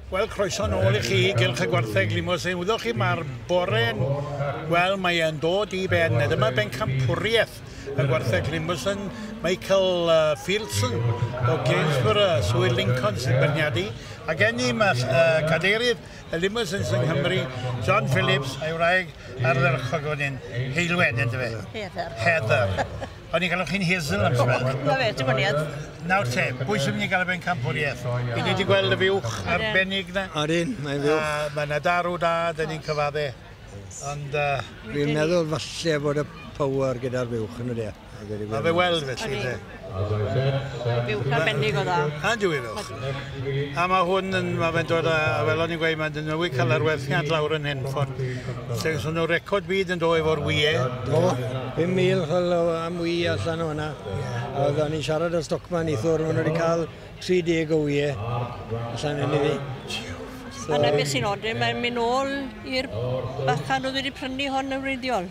Wel, croeso yn ôl i chi i Gylch y Gwartheg Limousin. Wyddoch chi, mae'r bore'n... Wel, mae e'n dod i ben. Dyma bencampwriaeth y Gwartheg Limousin, Michael uh, Fieldson o Gainsborough, Swyr Lincoln sy'n berniadu. Ac ennym uh, cadeirydd y Limousin sy'n Nghymru, John Phillips, a'i wraig ardderchog o'n hyn, Heilwen, ynddo fe? Heather. Heather. O'n ni'n galw chi'n Hazel am symud. O, 'na fe, dibyniad. Nawr te, pwy sy'n mynd i gael y bencampwriaeth? Ydyn ni 'di gweld y fuwch arbennig 'na? Odyn, mae'n fuwch. A mae 'na darw da, 'dyn ni'n cyfadde. Ond yy... Fi'n meddwl falle bod y power gyda'r fuwch yn odi e? Mae fe weld felly ynde? Fuwch arbennig o dda. Yndyw e fuwch? A mae hwn yn... mae fe'n dod â... fel o'n i'n gweud, mae dod â mwy calarwerthiant lawr yn hyn, chimod. Felly so nhw record byd yn dod efo'r ŵyau. Do, 5,000 fel o am ŵy allan o hwnna. Oedd o'n i'n siarad â stockman neithiwr, maen nhw wedi cael 30 o ŵyau allan yn iddi. A 'na beth sy'n od, mae'n mynd nôl i'r bachan oedd wedi prynu hon yn wreiddiol.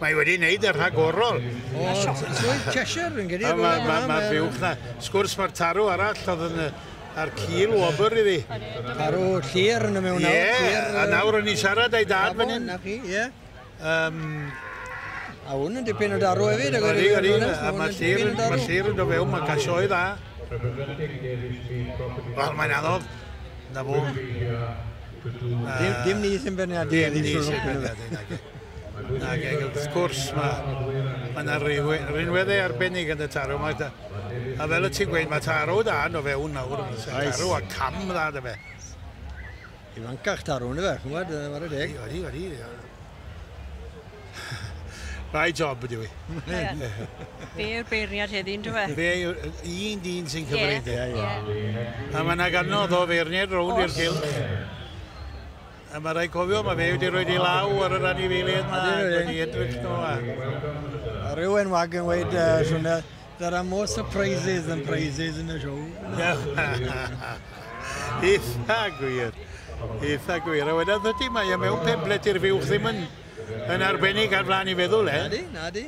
Mae wedi wneud y rhagorol. O, Swydd Cheshire yn gedi. Mae ma, ma buwch na. Sgwrs mae'r tarw arall oedd yn ar cil wobr i fi. Tarw llir yn y mewn nawr. Ie, a nawr o'n i'n siarad a'i dad fan hyn. Ie. Um, a hwn yn dipyn o darw hefyd. Ydy, ydy. A mae llir yn do fewn, mae gasioedd dda. Wel, mae'n anodd. Na fo. Dim ni sy'n benedig. Dim ni sy'n benedig. Nag eg, wrth gwrs, mae ma yna rinweddau arbennig yn y tarw. Mae, a fel y ti'n gweud, mae tarw da yn o fewn nawr. Oes. Tarw a cam dda dy fe. I fancach tarw, ni fe, chymod, mae'r y deg. Odi, odi. Rai job ydw i. Fe yw'r beirniad heddi, yn dweud? Fe yw'r un dyn sy'n cyfrif. Yeah. Yeah. A mae yna ganodd o feirniad rownd i'r cylch. A mae rhaid cofio, mae fe wedi rhoi ei law ar yr anifeiliaid yma, wedi edrych nhw. A... Rhywun wag yn weid, uh, swnio, there are more surprises than prizes in the show. Eitha gwir. Eitha gwir. A wedyn ydy, mae e mewn peblet i'r fiwch ddim yn, yn arbennig ar flaen i feddwl, e? Nadi, nadi.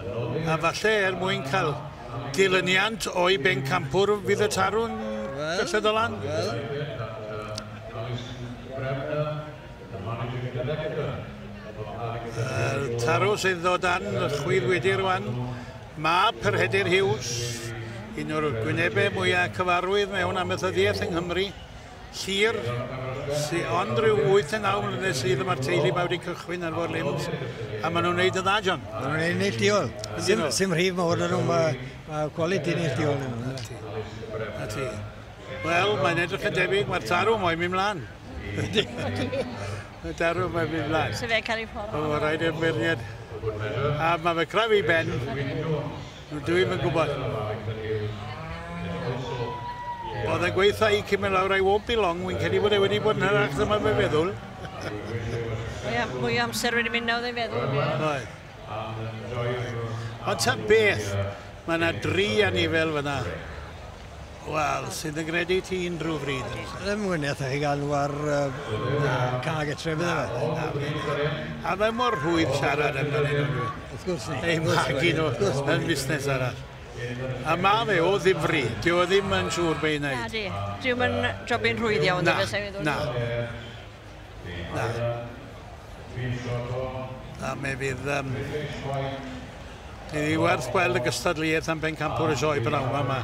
A falle er mwyn cael dilyniant o'i bencampwr fydd y tarw'n gysedd o lan? Wel. Yr tarw sydd o dan y chwith wedi rwan, mab Perhedir Hughes, un o'r gwynebau mwyaf cyfarwydd mewn amaethyddiaeth yng Nghymru, Llŷr, sy ond rhyw 8 neu 9 mlynedd sydd a mae'r teulu 'ma wedi cychwyn ar Four Limbs a maen nhw'n wneud yn dda, John. Maen nhw'n wneud neillduol. Sim, sim rhif mawr yn nhw, mae, mae quality neillduol yn nhw. Na ti. Wel, mae'n edrych yn debyg, mae'r tarw moyn mynd mlaen. Mae darw mae'n mynd mlaen. Sef e'n cael ei ffordd. O, rhaid i'r beirniad. A mae fe craf i ben. Rydw i'm yn gwybod. Oedd e'n gweithio i cymryd lawr I won't be long, wy'n credu bod e wedi bod yn hyrach dyma fe feddwl. Mwy o amser wedi mynd nawr ei feddwl. Oedd. Ond ta beth, mae yna dri anifail fyna. Wel, sydd yn gredu ti'n Drew Freed yn lle? Ddim yn eitha chi gan war cag y trefydd yma. A mae mor rhwydd siarad yn fan hyn. Wrth gwrs ni. Ei fod y gino yn busnes arall. A mae fe o ddifri. Dwi o ddim yn siŵr be i wneud. Na di. Dwi'n mynd jobyn rhwydd iawn. Na, na. Na. Na, me fydd... Um, Ni wedi werth gweld y gystadleuaeth am bencampwr y sioe bynawn yma.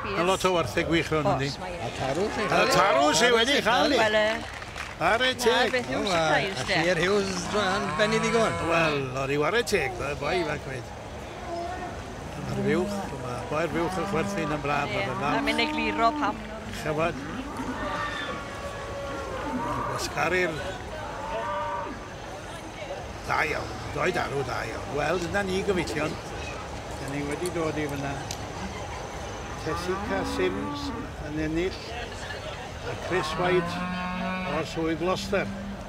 Mae yes. lot o werthau gwych rhywun yndi. A tarw chi. A tarw chi wedi cael ni. Ar y teg. Beth yw'n surprise de? Hughes yn benni ddigon. Wel, o'r i ware teg, y boi fe gweud. Ar y fuwch, mae boi'r fuwch yn chwerthin yn braf. Ie, mae mynd ei gliro pam. Chyfod. Gwasgaru'r... Da iawn, doed arw da iawn. Wel, dyna ni gyfeillion. Dyna ni wedi dod i fyna. Tessica Sims yn ennill a Chris White o'r swydd Gloucester.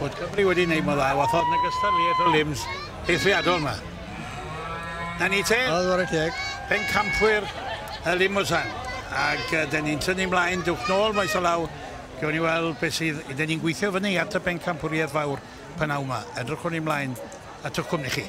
bod Cymru wedi wneud mor dda, wathod yn ogystal i Ethel Limbs eithriadol yma. Na ni te? Oedd o'r teg. Pen campwyr y Limosan. Ac uh, dyn ni'n tynnu mlaen, dwch nôl maes o law, Gewn ni weld beth sydd... Dyn ni'n gweithio fyny at y bencampwriaeth fawr pan aw yma. Edrychwn ni mlaen at o'ch cwmni chi.